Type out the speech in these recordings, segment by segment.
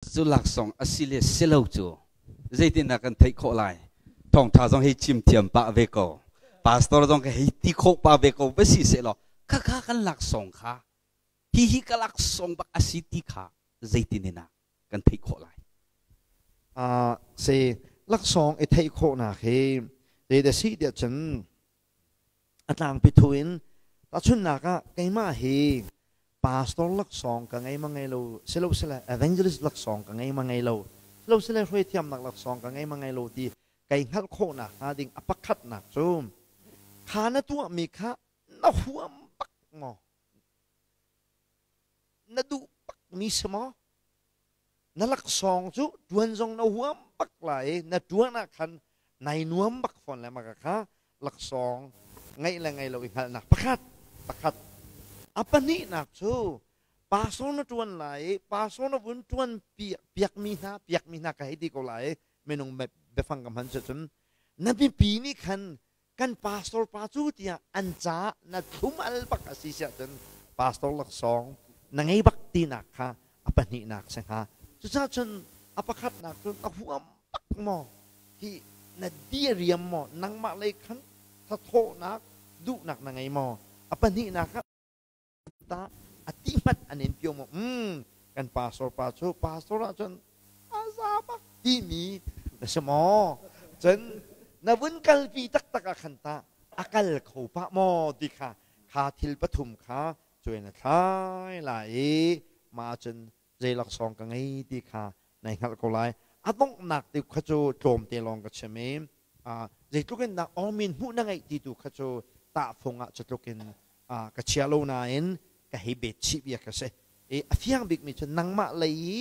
cu laksawng a si le si lo cu zeitindah kan theih khawh lai thawngtha zong hi chim thiam pah ve ko pastor zong ka hei ti khawh pa ve ko va si sehlaw khakha kan laksawng kha hi hi ka laksawng bak a si ti kha zeitin in ah kan theih khawh lai uh, si laksawng i theih khawhnak hi te de si tiah cun A tlangpi thu in tahchunhnak ah keimah hi pastor laksawng ka ngei ma ngei lo silosile evangelist laksawng ka ngei ma ngei lo silosile hruaithiamnak laksawng ka ngei ma ngei lo ti kai hngalh khawh nak hnga ding a pakhatnak cu kha na tuahmi kha na huam bak maw na duh bak mi si maw Na laksawng cu ṭuan zong na huam bak lai i na ṭuan ah khan nai nuam bak fawn le maka kha laksawng ngeih le ngei lo i hngalhnak pakhat pakhat a pahnihnak cu pastor na ṭuan lai i pastor na vun ṭuan piak piakmi hna piakmi hna ka hei ti ko lai i minung biafang ka hman cu cun na mipi nih khan kan pastor pa cu tiah an caah na thumal bak a si siahcun pastor laksawng na ngei bak tinak kha a pahnihnak si hnga cucaah cun a pakhatnak cun a huam bak maw hi na diariam maw nangmah lei khan thathawhnak duhnak na ngei maw a pahnihnak kha tah a ti hmanh an in tio maw mm, kan pastor pa cu pastor ah cun a za bak timi na si maw cun na vun kalpi taktak ah khan ta a kal kho pa maw ti kha kha thil pathum kha cuai na thlai lai i ma cun zei laksawng ka ngei ti kha nai hngalh ko lai. A donghnak tiuk kha cu tlawmte lawng ka chim i zeitluk in dah awmin hmuh na ngeih ti tu kha cu tahfung ah cutluk in ka chia lo nain ka hei betchih bia ka si i a fiang bikmi cu nangmah lei i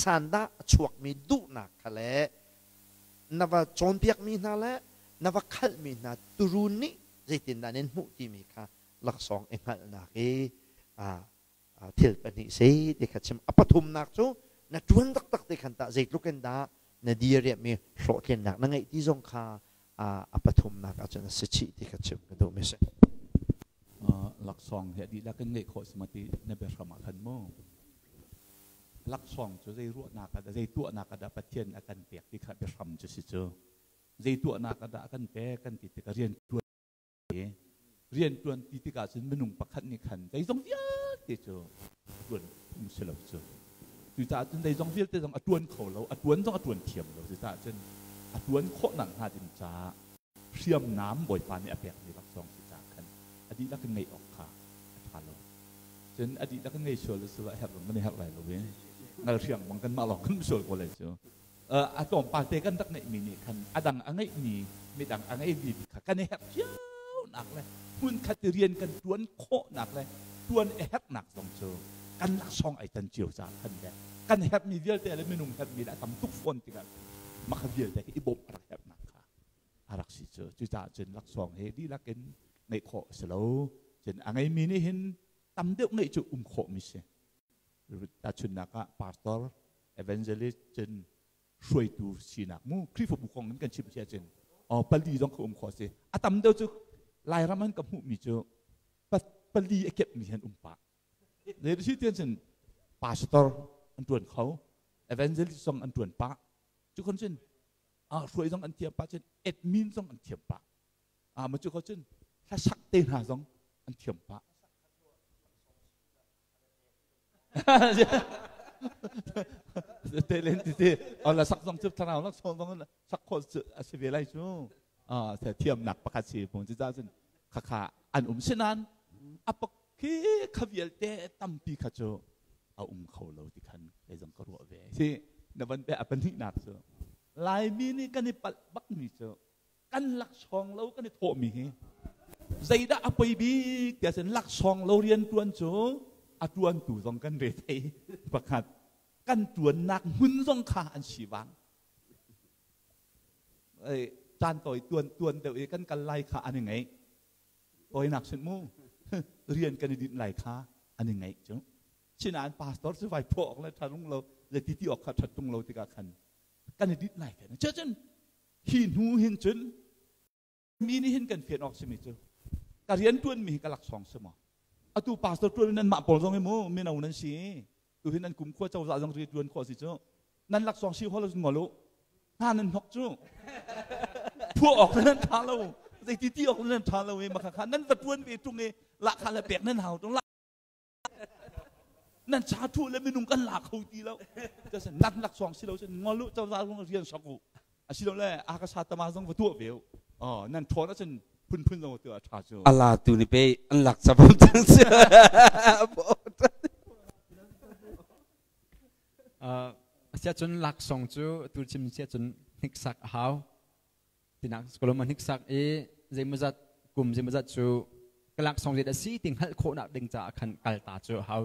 sandah a chuakmi duhnak kha le na va cawnpiakmi hna le na va khalhmi hna turun nih zeitindah nan hmuh timi kha laksawng i hngalhnak i thil pahnih sei ti kha chim. A pathumnak cu na ṭuan taktak ti khan tah zeitluk in dah na diriamhmi hlawhtlinnak na ngeih ti zong kha a pathumnak ah cun a si chih ti kha chim ka duhmi a si. Laksawng he dihlak in ngeih khawh si ma ti na biahram ah khan mu. Laksawng cu zei ruahnak ah dah, zei tuahnak ah dah Pathian a kan pek ti kha biahram cu si cu. Zei tuahnak ah dah a kan pek kan ti tikah rian ṭuan rianṭuan ti tikah cun minung pakhat nih khan zeizong vialte cu ṭuan phung si lo cu cucaah cun zeizong vialte zong a ṭuan kho lo a ṭuan zong a ṭuan thiam lo cucaah cun a ṭuan khawhnak hnga ding caah hriamnam bawipa nih a pekmi laksawng si caah khan a dihlak in ngeih awk kha a ṭha lo cun a dihlak in ngei sual a si lo a herh zong kan i herh lai lo i ngal hriang bang kanmah lawng kan sual ko lai cu a tlawmpal te kan rak ngeihmi nih khan a dang a ngeihmi midang a ngeimi kha kan i herh cionak le hmunkhat i rian kan ṭuan khawhnak le ṭuan i herhnak zong cu kan laksawng ai tan cio caah khan le kan herhmi vialte le minung herhmi le a tam tuk fawn tikah mah vialte hi i bawmh a rak herhnak kha a rak si cu cucaah cun laksawng hi dihlak in ngeih khawh a si lo cun a ngeimi nih hin tam deuh ngeih cu um khawhmi si Tahchunnak ah pastor, evangelist cun hruaitu sinak mu Khrihfabu kong in kan chim si ahcun oh, pali zong ka um khawh si a tam deuh cu Lairam an ka hmuhmi cu pali a kepmi han um pah le si tian cun pastor an tuan kho evangelist zong an tuan pah cu kon cun ah hruai zong an thiam pah cun admin zong an thiam pah ah ma cu kho cun hlasak te hna zong an thiam pah Te len ti ti. Ala sak zong cu thlarau nak sawm bang sak khol a si ve lai cu. Ah se thiam nak pakhat si pun ci ta sin khakha an um sinan apa khi kha vial te tampi kha chu a um kho lo ti khan kai zong ka ruwa ve si na ban pe apan ni nak chu laimi ni kan i pal bak mi chu kan laksawng lo kan i thawhmi hi zeidah a poi bik tiah cun laksawng lo rian ṭuan cu a ṭuantu zong kan re thei pakhat kan ṭuannak hmun zong kha an si vang caan tawi tuan tuan deuh i kan kal lai kha an i ngaih tawinak sin mu rian kan i dinh lai kha an i ngaih cu sinain pastor si vai phaw awk le ṭharung lo le ti ti awk kha ṭhat ṭung lo tikah khan kan i dinh lai te cun Hi hnu hin cun mi nih hin kan fian awk simi cu ka rian ṭuanmi hi ka laksawng si maw? Atu pastor ṭuan in nanmah pawl zong hi mu mino nan si tuhin nan kumkhua cozah zong rian ṭuan khawh si cu nan laksawng si hol ngol u hna nan hnok cu phuah awk nan ṭha lo zeiti ti awk nan ṭha lo i makha kha nan va ṭuan ve ṭung i lahkha le pek nan hau ṭung nan cha thuh le minung kan la kho ti lo nak nak suang si lo sin ngol lu chau zal rung rian sok u asi lo le a ka sa tama zong va tuah ve u oh nan thon a cun phunphun zong tu a tha cu ala tu ni pe an lak chapam chang si sia cun laksong cu tu chim sia cun hniksak a hau Tinak kolom a hniksak i zeimawzat kum zeimawzat cu ka laksawng riat a si ti hngalh khawhnak ding caah khan kalta cu a hau.